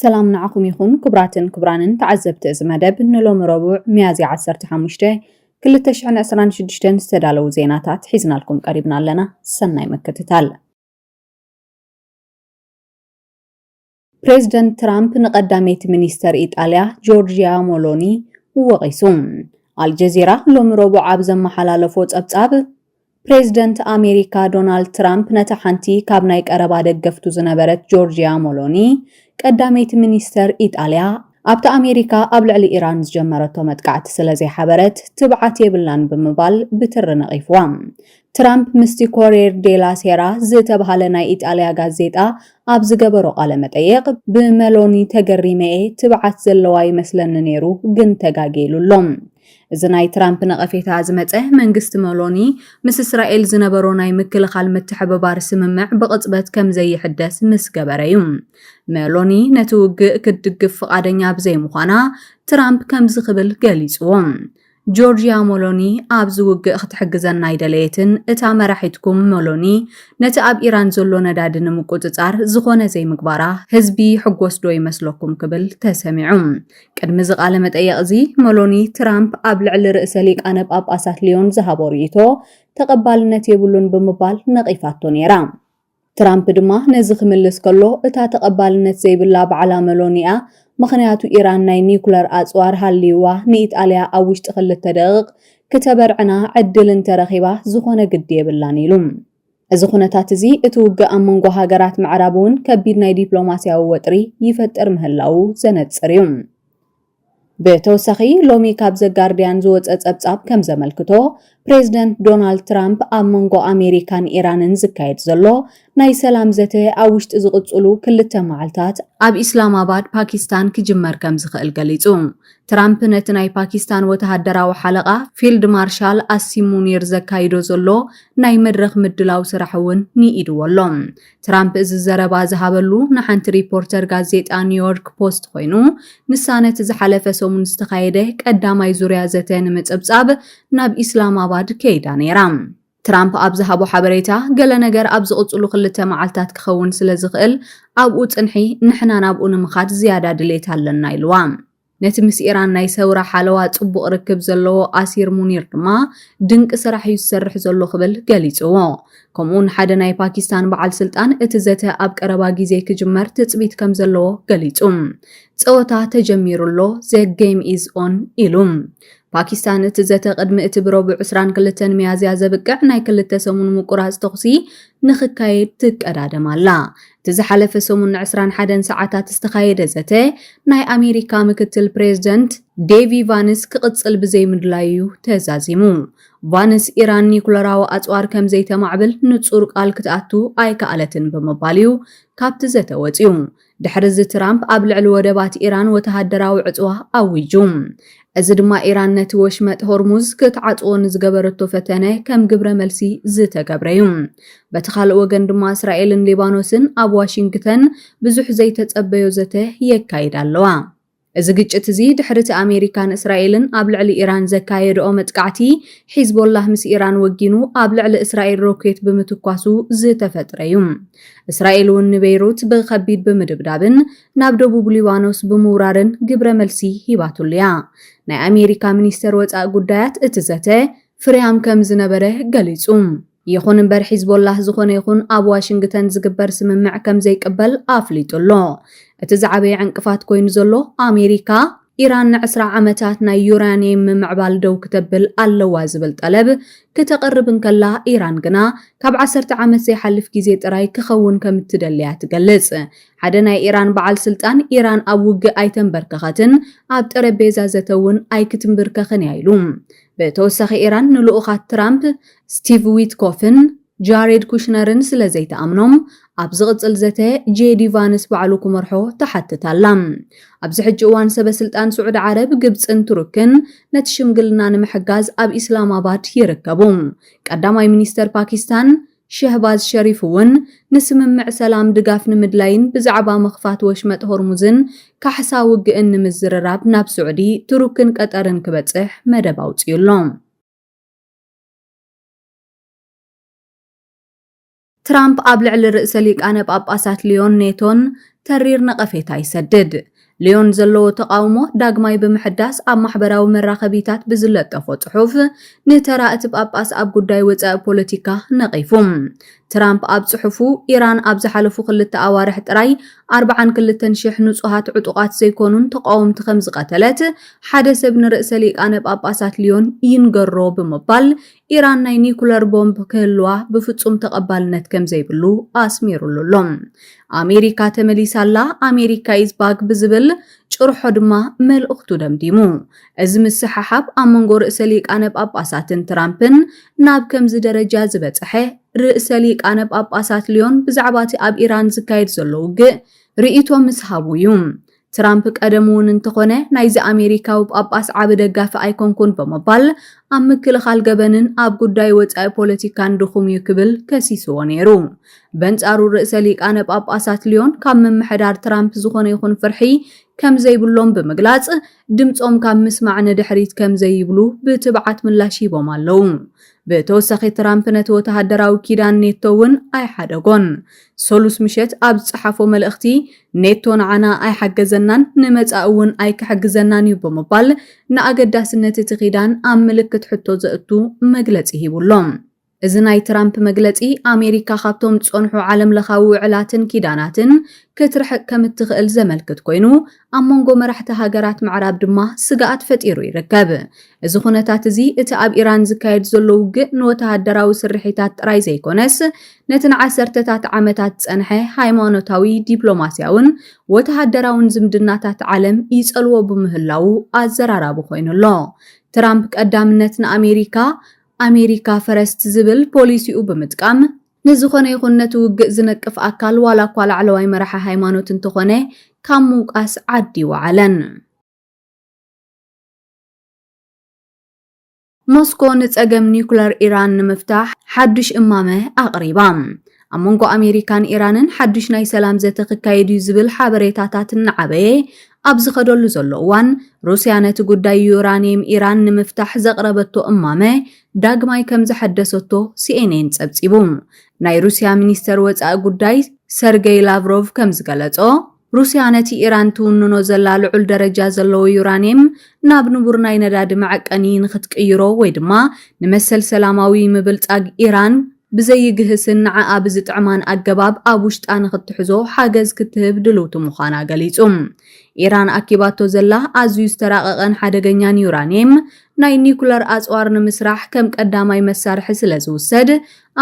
ሰላም ንዓኹም ይኹን ክቡራትን ክቡራንን ተዓዘብቲ እዚ መደብ ንሎሚ ረቡዕ ሚያዝያ ዓሰርተ ሓሙሽተ ክልተ ሽሕን ዕስራን ሽዱሽተን ዝተዳለዉ ዜናታት ሒዝናልኩም ቀሪብና ኣለና። ሰናይ ምክትታል። ፕሬዝደንት ትራምፕ ንቀዳመይቲ ሚኒስተር ኢጣልያ ጆርጅያ ሞሎኒ ወቒሱ። ኣልጀዚራ ሎሚ ረቡዕ ኣብ ዘመሓላለፎ ጸብጻብ ፕሬዝደንት ኣሜሪካ ዶናልድ ትራምፕ ነታ ሓንቲ ካብ ናይ ቀረባ ደገፍቱ ዝነበረት ጆርጂያ ሞሎኒ፣ ቀዳመይቲ ሚኒስተር ኢጣልያ፣ ኣብቲ ኣሜሪካ ኣብ ልዕሊ ኢራን ዝጀመረቶ መጥቃዕቲ ስለዘይሓበረት ትብዓት የብላን ብምባል ብትሪ ነቒፍዋ። ትራምፕ ምስቲ ኮርየር ዴላ ሴራ ዝተብሃለ ናይ ኢጣልያ ጋዜጣ ኣብ ዝገበሮ ቃለ መጠይቕ፣ ብመሎኒ ተገሪመ'የ፣ ትብዓት ዘለዋ ይመስለኒ ነይሩ፣ ግን ተጋግየ ኢሉ ኣሎ። እዚ ናይ ትራምፕ ነቐፌታ ዝመጸ፣ መንግስቲ መሎኒ ምስ እስራኤል ዝነበሮ ናይ ምክልኻል ምትሕብባር ስምምዕ ብቕጽበት ከም ዘይሕደስ ምስ ገበረ'ዩ። መሎኒ ነቲ ውግእ ክትድግፍ ፍቓደኛ ብዘይምዃና፣ ትራምፕ ከምዚ ክብል ገሊጽዎ፣ ጆርጅያ መሎኒ ኣብዚ ውግእ ክትሕግዘና ኣይደለየትን፣ እታ መራሒትኩም መሎኒ ነቲ ኣብ ኢራን ዘሎ ነዳዲ ንምቁጽጻር ዝኾነ ዘይምግባራ ህዝቢ ይሕጎስዶ ይመስለኩም ክብል ተሰሚዑ። ቅድሚ እዚ ቃለ መጠይቕ እዚ መሎኒ፣ ትራምፕ ኣብ ልዕሊ ርእሰ ሊቃነ ጳጳሳት ልዮን ዝሃቦ ርእይቶ ተቐባልነት የብሉን ብምባል ነቒፋቶ ነይራ። ትራምፕ ድማ ነዚ ክምልስ ከሎ፣ እታ ተቐባልነት ዘይብላ ባዕላ መሎኒ እያ፣ ምኽንያቱ ኢራን ናይ ኒዩክለር ኣጽዋር ሃልይዋ ንኢጣልያ ኣብ ውሽጢ ክልተ ደቒቕ ክተበርዕና ዕድል እንተረኺባ ዝኾነ ግዲ የብላን ኢሉ። እዚ ኩነታት እዚ እቲ ውግእ ኣብ መንጎ ሃገራት ምዕራብ እውን ከቢድ ናይ ዲፕሎማሲያዊ ወጥሪ ይፈጥር ምህላዉ ዘነጽር እዩ። ብተወሳኺ ሎሚ ካብ ዘ ጋርድያን ዝወጸ ጸብጻብ ከም ዘመልክቶ ፕሬዝደንት ዶናልድ ትራምፕ ኣብ መንጎ ኣሜሪካን ኢራንን ዝካየድ ዘሎ ናይ ሰላም ዘተ ኣብ ውሽጢ ዝቕጽሉ ክልተ መዓልታት ኣብ ኢስላማባድ ፓኪስታን ክጅመር ከም ዝኽእል ገሊጹ። ትራምፕ ነቲ ናይ ፓኪስታን ወተሃደራዊ ሓለቓ ፊልድ ማርሻል ኣሲም ሙኒር ዘካይዶ ዘሎ ናይ መድረኽ ምድላው ስራሕ እውን ንኢድዎ ኣሎ። ትራምፕ እዚ ዘረባ ዝሃበሉ ንሓንቲ ሪፖርተር ጋዜጣ ኒውዮርክ ፖስት ኮይኑ፣ ንሳ ነቲ ዝሓለፈ ሰሙን ዝተኻየደ ቀዳማይ ዙርያ ዘተ ንምጽብጻብ ናብ ኢስላማባድ ከይዳ ነይራ። ትራምፕ ኣብ ዝሃቦ ሓበሬታ፣ ገለ ነገር ኣብ ዝቕጽሉ ክልተ መዓልታት ክኸውን ስለ ዝኽእል ኣብኡ ጽንሒ፣ ንሕና ናብኡ ንምኻድ ዝያዳ ድሌት ኣለና ኢልዋ። ነቲ ምስ ኢራን ናይ ሰውራ ሓለዋ ጽቡቕ ርክብ ዘለዎ ኣሲር ሙኒር ድማ፣ ድንቂ ስራሕ እዩ ዝሰርሕ ዘሎ ክብል ገሊጽዎ። ከምኡ'ውን ሓደ ናይ ፓኪስታን በዓል ስልጣን እቲ ዘተ ኣብ ቀረባ ግዜ ክጅመር ትጽቢት ከም ዘለዎ ገሊጹ። ጸወታ ተጀሚሩ ኣሎ፣ ዘ ገይም ኢዝ ኦን ኢሉ። ፓኪስታን እቲ ዘተ ቅድሚ እቲ ብረቡዕ ዕስራን ክልተን ሚያዝያ ዘብቅዕ ናይ ክልተ ሰሙን ምቁራጽ ተኹሲ ንኽካየድ ትቀዳደም ኣላ። እቲ ዝሓለፈ ሰሙን ንዕስራን ሓደን ሰዓታት ዝተኻየደ ዘተ ናይ ኣሜሪካ ምክትል ፕሬዝደንት ዴቪ ቫንስ ክቕጽል ብዘይምድላዩ'ዩ ተዛዚሙ። ቫንስ ኢራን ኒኩለራዊ ኣጽዋር ከምዘይተማዕብል ንጹር ቃል ክትኣቱ ኣይከኣለትን ብምባል'ዩ ካብቲ ዘተ ወጺኡ። ድሕሪዚ ትራምፕ ኣብ ልዕሊ ወደባት ኢራን ወተሃደራዊ ዕጽዋ ኣዊጁ። እዚ ድማ ኢራን ነቲ ወሽመጥ ሆርሙዝ ክትዓጽዎ ንዝገበረቶ ፈተነ ከም ግብረ መልሲ ዝተገብረ'ዩ። በቲ ካልእ ወገን ድማ እስራኤልን ሊባኖስን ኣብ ዋሽንግተን ብዙሕ ዘይተጸበዮ ዘተ የካይዳ ኣለዋ። እዚ ግጭት እዚ ድሕሪ'ቲ ኣሜሪካን እስራኤልን ኣብ ልዕሊ ኢራን ዘካየድኦ መጥቃዕቲ፣ ሒዝቦላህ ምስ ኢራን ወጊኑ ኣብ ልዕሊ እስራኤል ሮኬት ብምትኳሱ ዝተፈጥረ'ዩ። እስራኤል'ውን ንቤይሩት ብኸቢድ ብምድብዳብን ናብ ደቡብ ሊባኖስ ብምውራርን ግብረ መልሲ ሂባትሉ'ያ። ናይ ኣሜሪካ ሚኒስተር ወጻኢ ጉዳያት እቲ ዘተ ፍርያም ከም ዝነበረ ገሊጹ። ይኹን እምበር ሒዝቦላህ ዝኾነ ይኹን ኣብ ዋሽንግተን ዝግበር ስምምዕ ከም ዘይቅበል ኣፍሊጡ ኣሎ። እቲ ዝዓበየ ዕንቅፋት ኮይኑ ዘሎ ኣሜሪካ፣ ኢራን ንዕስራ ዓመታት ናይ ዩራንየም ምምዕባል ደው ክተብል ኣለዋ ዝብል ጠለብ ክተቕርብ እንከላ፣ ኢራን ግና ካብ ዓሰርተ ዓመት ዘይሓልፍ ግዜ ጥራይ ክኸውን ከም እትደሊ እያ ትገልጽ። ሓደ ናይ ኢራን በዓል ስልጣን፣ ኢራን ኣብ ውግእ ኣይተንበርከኸትን፣ ኣብ ጠረጴዛ ዘተ እውን ኣይክትምብርከኽን እያ ኢሉ። ብተወሳኺ ኢራን ንልኡኻት ትራምፕ ስቲቭ ዊትኮፍን ጃሬድ ኩሽነርን ስለ ዘይትኣምኖም ኣብ ዝቕጽል ዘተ ጄዲ ቫንስ ባዕሉ ክመርሖ ትሓትት ኣላ። ኣብዚ ሕጂ እዋን ሰበ ስልጣን ስዑዲ ዓረብ፣ ግብጽን ቱርክን ነቲ ሽምግልና ንምሕጋዝ ኣብ ኢስላማባድ ይርከቡ። ቀዳማይ ሚኒስተር ፓኪስታን ሸህባዝ ሸሪፍ'ውን ንስምምዕ ሰላም ድጋፍ ንምድላይን ብዛዕባ ምኽፋት ወሽመጥ ሆርሙዝን ካሕሳ ውግእን ንምዝርራብ ናብ ስዑዲ፣ ቱርክን ቀጠርን ክበጽሕ መደብ ኣውጺኡ'ሎ። ትራምፕ ኣብ ልዕሊ ርእሰ ሊቃነ ጳጳሳት ልዮን ኔቶን ተሪር ነቐፌታ ይሰድድ። ልዮን ዘለዎ ተቓውሞ ዳግማይ ብምሕዳስ ኣብ ማሕበራዊ መራኸቢታት ብዝለጠፎ ጽሑፍ ንተራ እቲ ጳጳስ ኣብ ጉዳይ ወጻኢ ፖለቲካ ነቒፉ። ትራምፕ ኣብ ጽሑፉ፣ ኢራን ኣብ ዝሓለፉ ክልተ ኣዋርሕ ጥራይ ኣርብዓን ክልተን ሽሕ ንጹሃት ዕጡቓት ዘይኮኑን ተቓወምቲ ከምዝቐተለት ሓደ ሰብ ንርእሰ ሊቃነ ጳጳሳት ልዮን ይንገሮ ብምባል ኢራን ናይ ኒኩለር ቦምብ ክህልዋ ብፍጹም ተቐባልነት ከም ዘይብሉ ኣስሚሩሉ ኣሎ። ኣሜሪካ ተመሊሳ ኣላ፣ ኣሜሪካ ኢዝ ባክ ብዝብል ጭርሖ ድማ መልእኽቱ ደምዲሙ። እዚ ምስሕሓብ ኣብ መንጎ ርእሰ ሊቃነ ጳጳሳትን ትራምፕን ናብ ከምዚ ደረጃ ዝበጽሐ፣ ርእሰ ሊቃነ ጳጳሳት ልዮን ብዛዕባ እቲ ኣብ ኢራን ዝካየድ ዘሎ ውግእ ርእይቶ ምስ ሃቡ እዩ። ትራምፕ ቀደሙ'ውን እንተኾነ ናይዚ ኣሜሪካዊ ጳጳስ ዓቢ ደጋፊ ኣይኮንኩን ብምባል ኣብ ምክልኻል ገበንን ኣብ ጉዳይ ወጻኢ ፖለቲካን ድኹም'ዩ ክብል ከሲስዎ ነይሩ። በንጻሩ ርእሰ ሊቃነ ጳጳሳት ልዮን ካብ ምምሕዳር ትራምፕ ዝኾነ ይኹን ፍርሒ ከም ዘይብሎም ብምግላጽ ድምጾም ካብ ምስማዕ ንድሕሪት ከም ዘይብሉ ብትብዓት ምላሽ ሂቦም ኣለዉ። ብተወሳኺ ትራምፕ ነቲ ወተሃደራዊ ኪዳን ኔቶ እውን ኣይሓደጎን። ሰሉስ ምሸት ኣብ ዝጸሓፎ መልእኽቲ፣ ኔቶ ንዓና ኣይሓገዘናን፣ ንመጻኢ እውን ኣይክሕግዘናን እዩ ብምባል ንኣገዳስነት እቲ ኪዳን ኣብ ምልክት ሕቶ ዘእቱ መግለጺ ሂቡ ኣሎ። እዚ ናይ ትራምፕ መግለጺ፣ ኣሜሪካ ካብቶም ዝጸንሑ ዓለምለኻዊ ውዕላትን ኪዳናትን ክትርሕቅ ከም እትኽእል ዘመልክት ኰይኑ፣ ኣብ መንጎ መራሕቲ ሃገራት ምዕራብ ድማ ስግኣት ፈጢሩ ይርከብ። እዚ ዅነታት እዚ እቲ ኣብ ኢራን ዝካየድ ዘሎ ውግእ ንወተሃደራዊ ስርሒታት ጥራይ ዘይኰነስ ነቲ ንዓሰርተታት ዓመታት ዝጸንሐ ሃይማኖታዊ፣ ዲፕሎማስያውን ወተሃደራውን ዝምድናታት ዓለም ይጸልዎ ብምህላዉ ኣዘራራቢ ኰይኑ ኣሎ። ትራምፕ ቀዳምነት ንኣሜሪካ፣ ኣሜሪካ ፈረስት ዝብል ፖሊሲኡ ብምጥቃም፣ ንዝኾነ ይኹን ነቲ ውግእ ዝነቅፍ ኣካል ዋላ እኳ ላዕለዋይ መራሒ ሃይማኖት እንተኾነ ካብ ምውቃስ ዓዲ ወዓለን። ሞስኮ ንጸገም ኒዩክለር ኢራን ንምፍታሕ ሓዱሽ እማመ ኣቕሪባ። ኣብ መንጎ ኣሜሪካን ኢራንን ሓዱሽ ናይ ሰላም ዘተ ክካየድ እዩ ዝብል ሓበሬታታት እናዓበየ ኣብ ዝኸደሉ ዘሎ እዋን፣ ሩስያ ነቲ ጉዳይ ዩራኒየም ኢራን ንምፍታሕ ዘቕረበቶ እማመ ዳግማይ ከም ዘሐደሰቶ ሲኤንኤን ጸብጺቡ። ናይ ሩስያ ሚኒስተር ወጻኢ ጉዳይ ሰርገይ ላቭሮቭ ከም ዝገለጾ፣ ሩስያ ነቲ ኢራን ትውንኖ ዘላ ልዑል ደረጃ ዘለዎ ዩራንየም ናብ ንቡር ናይ ነዳዲ መዐቀኒ ንኽትቅይሮ ወይ ድማ ንመሰል ሰላማዊ ምብልጻግ ኢራን ብዘይግህስን ንዓኣ ብዝጥዕማን ኣገባብ ኣብ ውሽጣ ንኽትሕዞ ሓገዝ ክትህብ ድልውቲ ምዃና ገሊጹ። ኢራን ኣኪባቶ ዘላ ኣዝዩ ዝተራቐቐን ሓደገኛን ዩራንየም፣ ናይ ኒኩለር ኣጽዋር ንምስራሕ ከም ቀዳማይ መሳርሒ ስለ ዝውሰድ፣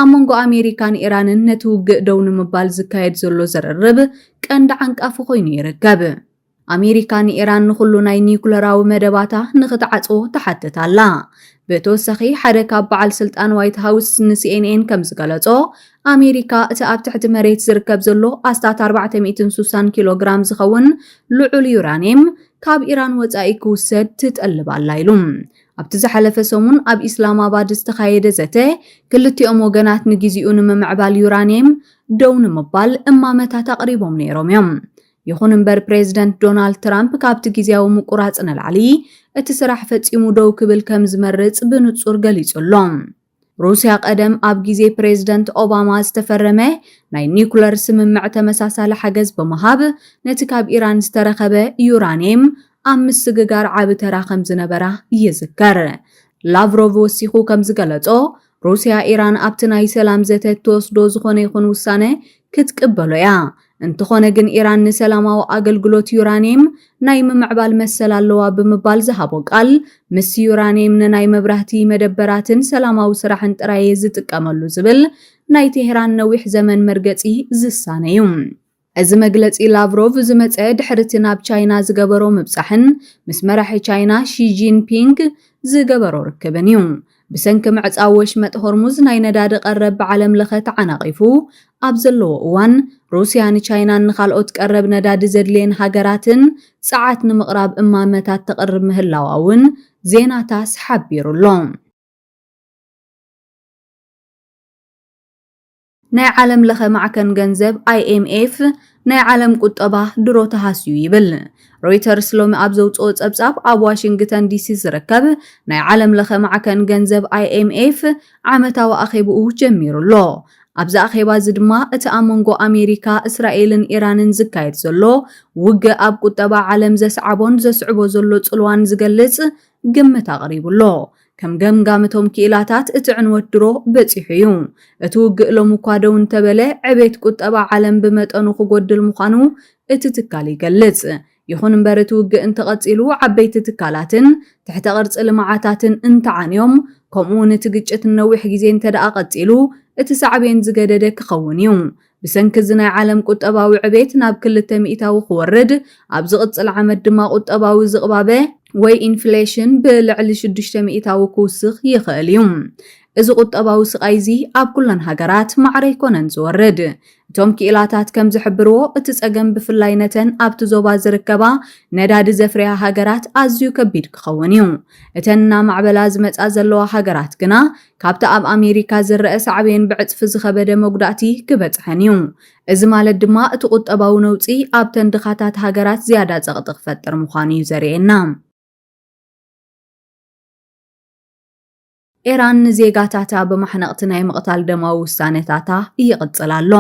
ኣብ መንጎ ኣሜሪካን ኢራንን ነቲ ውግእ ደው ንምባል ዝካየድ ዘሎ ዝርርብ ቀንዲ ዓንቃፊ ኮይኑ ይርከብ። ኣሜሪካ ንኢራን ንኹሉ ናይ ኒኩለራዊ መደባታ ንኽትዓጽዎ ትሓትት ኣላ። ብተወሳኺ ሓደ ካብ በዓል ስልጣን ዋይት ሃውስ ንሲኤንኤን ከም ዝገለጾ፣ ኣሜሪካ እቲ ኣብ ትሕቲ መሬት ዝርከብ ዘሎ ኣስታት ኣርባዕተ ሚእትን ሱሳን ኪሎ ግራም ዝኸውን ልዑል ዩራኒየም ካብ ኢራን ወጻኢ ክውሰድ ትጠልብ ኣላ ኢሉ። ኣብቲ ዝሓለፈ ሰሙን ኣብ ኢስላማባድ ዝተኻየደ ዘተ፣ ክልቲኦም ወገናት ንግዜኡ ንምምዕባል ዩራኒየም ደው ንምባል እማመታት ኣቕሪቦም ነይሮም እዮም። ይኹን እምበር ፕሬዝደንት ዶናልድ ትራምፕ ካብቲ ግዝያዊ ምቁራጽ ንላዕሊ እቲ ስራሕ ፈጺሙ ደው ክብል ከምዝመርጽ ብንጹር ገሊጹ ኣሎ። ሩስያ ቀደም ኣብ ግዜ ፕሬዝደንት ኦባማ ዝተፈረመ ናይ ኒኩለር ስምምዕ ተመሳሳሊ ሓገዝ ብምሃብ ነቲ ካብ ኢራን ዝተረኸበ ዩራንየም ኣብ ምስግጋር ዓቢ ተራ ከምዝነበራ ይዝከር። ላቭሮቭ ወሲኹ ከምዝገለጾ ሩስያ ኢራን ኣብቲ ናይ ሰላም ዘተ እትወስዶ ዝኾነ ይኹን ውሳነ ክትቅበሎ እያ። እንተኾነ ግን ኢራን ንሰላማዊ ኣገልግሎት ዩራኒየም ናይ ምምዕባል መሰል ኣለዋ ብምባል ዝሃቦ ቃል፣ ምስ ዩራኒየም ንናይ መብራህቲ መደበራትን ሰላማዊ ስራሕን ጥራይ እየ ዝጥቀመሉ ዝብል ናይ ቴህራን ነዊሕ ዘመን መርገጺ ዝሳነ እዩ። እዚ መግለጺ ላቭሮቭ ዝመጸ ድሕሪ'ቲ ናብ ቻይና ዝገበሮ ምብጻሕን ምስ መራሒ ቻይና ሺ ጂንፒንግ ዝገበሮ ርክብን እዩ። ብሰንኪ ምዕጻው ወሽመጥ ሆርሙዝ ናይ ነዳዲ ቀረብ ብዓለም ለኸ ተዓናቒፉ ኣብ ዘለዎ እዋን፣ ሩስያ ንቻይናን ንኻልኦት ቀረብ ነዳዲ ዘድልየን ሃገራትን ጸዓት ንምቕራብ እማመታት ተቕርብ ምህላዋ'ውን ዜና ታስ ሓቢሩ'ሎ። ናይ ዓለም ለኸ ማዕከን ገንዘብ፣ IMF፣ ናይ ዓለም ቁጠባ ድሮ ተሃስዩ ይብል። ሮይተርስ ሎሚ ኣብ ዘውጽኦ ጸብጻብ፣ ኣብ ዋሽንግተን ዲሲ ዝርከብ ናይ ዓለም ለኸ ማዕከን ገንዘብ፣ IMF፣ ዓመታዊ ኣኼብኡ ጀሚሩ ኣሎ። ኣብዚ ኣኼባ እዚ ድማ እቲ ኣብ መንጎ ኣሜሪካ፣ እስራኤልን ኢራንን ዝካየድ ዘሎ ውግእ ኣብ ቁጠባ ዓለም ዘስዓቦን ዘስዕቦ ዘሎ ጽልዋን ዝገልጽ ግምት ኣቕሪቡ ኣሎ። ከም ገምጋም እቶም ክኢላታት፣ እቲ ዕንወት ድሮ በጺሑ እዩ። እቲ ውግእ ሎሚ'ኳ ደው እንተበለ፣ ዕቤት ቁጠባ ዓለም ብመጠኑ ክጎድል ምዃኑ እቲ ትካል ይገልጽ። ይኹን እምበር እቲ ውግእ እንተቐጺሉ፣ ዓበይቲ ትካላትን ትሕተ ቅርጺ ልምዓታትን እንተዓንዮም፣ ከምኡ'ውን እቲ ግጭት ንነዊሕ ግዜ እንተድኣ ቀጺሉ፣ እቲ ሳዕቤን ዝገደደ ክኸውን እዩ። ብሰንኪ እዚ ናይ ዓለም ቁጠባዊ ዕቤት ናብ ክልተ ሚኢታዊ ክወርድ፣ ኣብ ዝቕጽል ዓመት ድማ ቁጠባዊ ዝቕባበ ወይ ኢንፍሌሽን ብልዕሊ ሽዱሽተ ሚኢታዊ ክውስኽ ይኽእል እዩ። እዚ ቁጠባዊ ስቓይ'ዚ ኣብ ኩለን ሃገራት ማዕረ ኣይኮነን ዝወርድ። እቶም ክኢላታት ከም ዝሕብርዎ፣ እቲ ጸገም ብፍላይ ነተን ኣብቲ ዞባ ዝርከባ ነዳዲ ዘፍርያ ሃገራት ኣዝዩ ከቢድ ክኸውን እዩ። እተን እናማዕበላ ዝመጻ ዘለዋ ሃገራት ግና ካብቲ ኣብ ኣሜሪካ ዝረኣ ሳዕቤን ብዕጽፊ ዝኸበደ መጉዳእቲ ክበጽሐን እዩ። እዚ ማለት ድማ እቲ ቁጠባዊ ነውጺ ኣብተን ድኻታት ሃገራት ዝያዳ ጸቕጢ ክፈጥር ምዃኑ እዩ ዘርእየና። ኤራን ንዜጋታታ ብማሕነቕቲ ናይ ምቕታል ደማዊ ውሳነታታ ይቕጽል ኣሎ።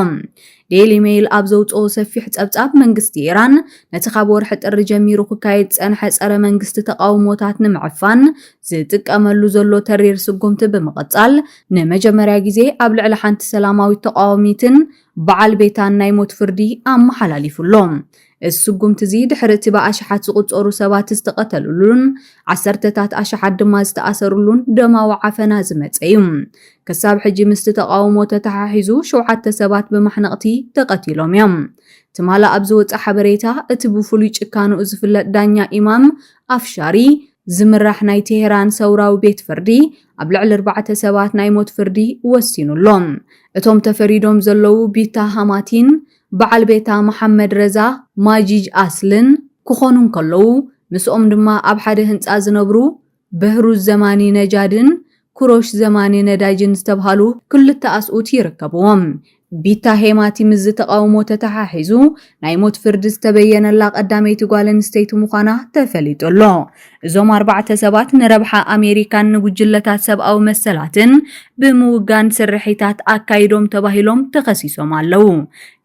ዴይሊ ሜይል ኣብ ዘውጽኦ ሰፊሕ ጸብጻብ፣ መንግስቲ ኢራን ነቲ ካብ ወርሒ ጥሪ ጀሚሩ ክካየድ ዝጸንሐ ጸረ መንግስቲ ተቓውሞታት ንምዕፋን ዝጥቀመሉ ዘሎ ተሪር ስጉምቲ ብምቕጻል፣ ንመጀመርያ ግዜ ኣብ ልዕሊ ሓንቲ ሰላማዊት ተቓዋሚትን በዓል ቤታን ናይ ሞት ፍርዲ ኣመሓላሊፉ ኣሎ። እዚ ስጉምቲ'ዚ ድሕሪ'ቲ ብኣሽሓት ዝቑጸሩ ሰባት ዝተቐተልሉን ዓሰርተታት ኣሽሓት ድማ ዝተኣሰርሉን ደማዊ ዓፈና ዝመጸ'ዩ። ክሳብ ሕጂ ምስቲ ተቓውሞ ተተሓሒዙ ሸውዓተ ሰባት ብማሕነቕቲ ተቐቲሎም'ዮም። ትማል ኣብ ዝወጸ ሓበሬታ፣ እቲ ብፍሉይ ጭካንኡ ዝፍለጥ ዳኛ ኢማም ኣፍሻሪ ዝምራሕ ናይ ቴህራን ሰውራዊ ቤት ፍርዲ፣ ኣብ ልዕሊ ኣርባዕተ ሰባት ናይ ሞት ፍርዲ ወሲኑ'ሎ። እቶም ተፈሪዶም ዘለዉ ቢታ ሃማቲን በዓል ቤታ መሓመድ ረዛ ማጂጅ ኣስልን ክኾኑ እንከለዉ፣ ምስኦም ድማ ኣብ ሓደ ህንጻ ዝነብሩ በህሩዝ ዘማኒ ነጃድን ኩሮሽ ዘማኒ ነዳጅን ዝተብሃሉ ክልተ ኣስኡት ይርከብዎም። ቢታ ሄማቲ ምስዚ ተቓውሞ ተተሓሒዙ ናይ ሞት ፍርዲ ዝተበየነላ ቀዳመይቲ ጓል ኣንስተይቲ ምዃና ተፈሊጡ ኣሎ። እዞም ኣርባዕተ ሰባት ንረብሓ ኣሜሪካን ንጉጅለታት ሰብኣዊ መሰላትን ብምውጋን ስርሒታት ኣካይዶም ተባሂሎም ተኸሲሶም ኣለዉ።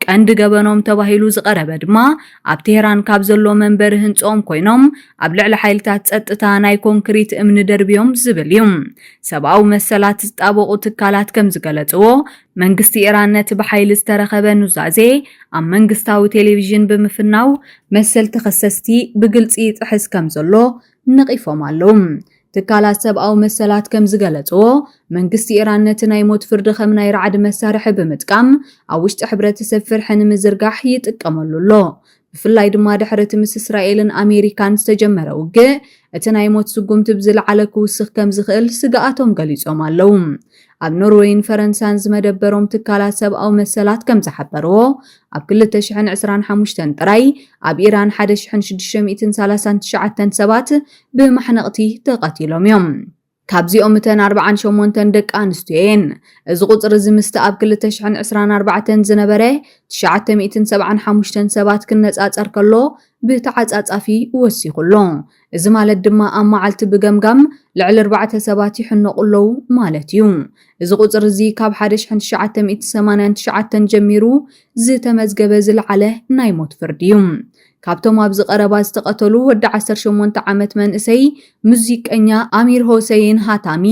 ቀንዲ ገበኖም ተባሂሉ ዝቐረበ ድማ ኣብ ቴህራን ካብ ዘሎ መንበሪ ህንጽኦም ኮይኖም ኣብ ልዕሊ ሓይልታት ጸጥታ ናይ ኮንክሪት እምኒ ደርብዮም ዝብል እዩ። ሰብኣዊ መሰላት ዝጣበቑ ትካላት ከም ዝገለጽዎ መንግስቲ ኢራን ነቲ ብሓይሊ ዝተረኸበ ኑዛዜ ኣብ መንግስታዊ ቴሌቪዥን ብምፍናው፣ መሰል ተኸሰስቲ ብግልጺ ይጥሕስ ከም ዘሎ ነቒፎም ኣለዉ። ትካላት ሰብኣዊ መሰላት ከም ዝገለጽዎ፣ መንግስቲ ኢራን ነቲ ናይ ሞት ፍርዲ ከም ናይ ራዕዲ መሳርሒ ብምጥቃም ኣብ ውሽጢ ሕብረተሰብ ፍርሒ ንምዝርጋሕ ይጥቀመሉ ኣሎ። ብፍላይ ድማ ድሕሪ እቲ ምስ እስራኤልን ኣሜሪካን ዝተጀመረ ውግእ እቲ ናይ ሞት ስጉምቲ ብዝለዓለ ክውስኽ ከም ዝኽእል ስግኣቶም ገሊጾም ኣለዉ። ኣብ ኖርወይን ፈረንሳን ዝመደበሮም ትካላት ሰብኣዊ መሰላት ከም ዝሓበርዎ ኣብ 2025 ጥራይ ኣብ ኢራን 1,639 ሰባት ብማሕነቕቲ ተቐቲሎም እዮም። ካብዚኦም እተን ኣርብዓን ሸሞንተን ደቂ ኣንስትዮ እየን። እዚ ቁጽሪ እዚ ምስቲ ኣብ ክልተ ሽሕን ዕስራን ኣርባዕተን ዝነበረ ትሽዓተ ሚእትን ሰብዓን ሓሙሽተን ሰባት ክነጻጸር ከሎ ብተዓጻጻፊ ወሲኹ ኣሎ። እዚ ማለት ድማ ኣብ መዓልቲ ብገምጋም ልዕሊ ኣርባዕተ ሰባት ይሕነቑ ኣለዉ ማለት እዩ። እዚ ቁጽሪ እዚ ካብ ሓደ ሽሕን ትሽዓተ ሚእትን ሰማንያን ትሽዓተን ጀሚሩ ዝተመዝገበ ዝለዓለ ናይ ሞት ፍርዲ እዩ። ካብቶም ኣብዚ ቀረባ ዝተቐተሉ ወዲ ዓሰርተ ሸሞንተ ዓመት መንእሰይ ሙዚቀኛ ኣሚር ሆሰይን ሃታሚ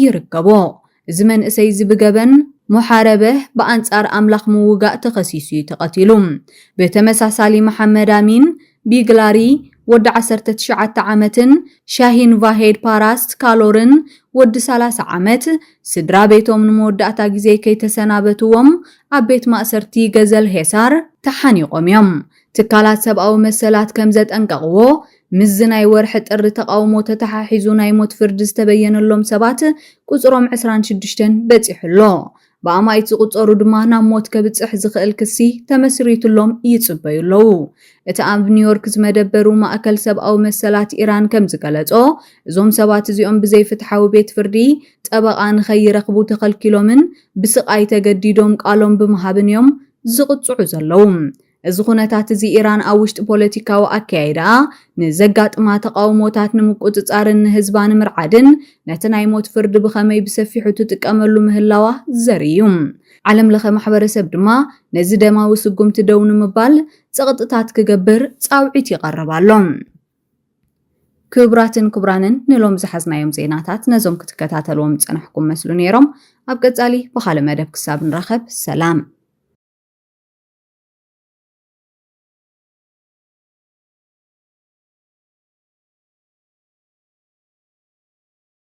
ይርከቦ። እዚ መንእሰይ እዚ ብገበን ሞሓረበህ፣ ብኣንጻር ኣምላኽ ምውጋእ፣ ተኸሲሱ እዩ ተቐቲሉ። ብተመሳሳሊ መሓመድ ኣሚን ቢግላሪ ወዲ ዓሰርተ ትሽዓተ ዓመትን ሻሂን ቫሄድ ፓራስት ካሎርን ወዲ ሰላሳ ዓመት ስድራ ቤቶም ንመወዳእታ ግዜ ከይተሰናበትዎም ኣብ ቤት ማእሰርቲ ገዘል ሔሳር ተሓኒቖም እዮም። ትካላት ሰብኣዊ መሰላት ከም ዘጠንቀቕዎ፣ ምስዚ ናይ ወርሒ ጥሪ ተቓውሞ ተተሓሒዙ ናይ ሞት ፍርዲ ዝተበየነሎም ሰባት ቁጽሮም ዕስራን ሽዱሽተን በጺሑ ኣሎ። ብኣማኢት ዝቑጸሩ ድማ ናብ ሞት ከብጽሕ ዝኽእል ክሲ ተመስሪቱሎም ይጽበዩ ኣለዉ። እቲ ኣብ ኒውዮርክ ዝመደበሩ ማእከል ሰብኣዊ መሰላት ኢራን ከም ዝገለጾ፣ እዞም ሰባት እዚኦም ብዘይ ፍትሓዊ ቤት ፍርዲ ጠበቓ ንኸይረኽቡ ተኸልኪሎምን ብስቓይ ተገዲዶም ቃሎም ብምሃብን እዮም ዝቕጽዑ ዘለዉ። እዚ ዅነታት እዚ ኢራን ኣብ ውሽጢ ፖለቲካዊ ኣከያይዳኣ ንዘጋጥማ ተቓውሞታት ንምቍጽጻርን ንህዝባ ንምርዓድን ነቲ ናይ ሞት ፍርዲ ብኸመይ ብሰፊሑ ትጥቀመሉ ምህላዋ ዘርኢ እዩ። ዓለምለኸ ማሕበረሰብ ድማ ነዚ ደማዊ ስጕምቲ ደው ንምባል ጸቕጥታት ክገብር ጻውዒት ይቐርብ ኣሎ። ክቡራትን ክቡራንን ንሎም ዝሓዝናዮም ዜናታት ነዞም ክትከታተልዎም ዝጸናሕኩም መስሉ ነይሮም። ኣብ ቀጻሊ ብኻልእ መደብ ክሳብ ንራኸብ ሰላም።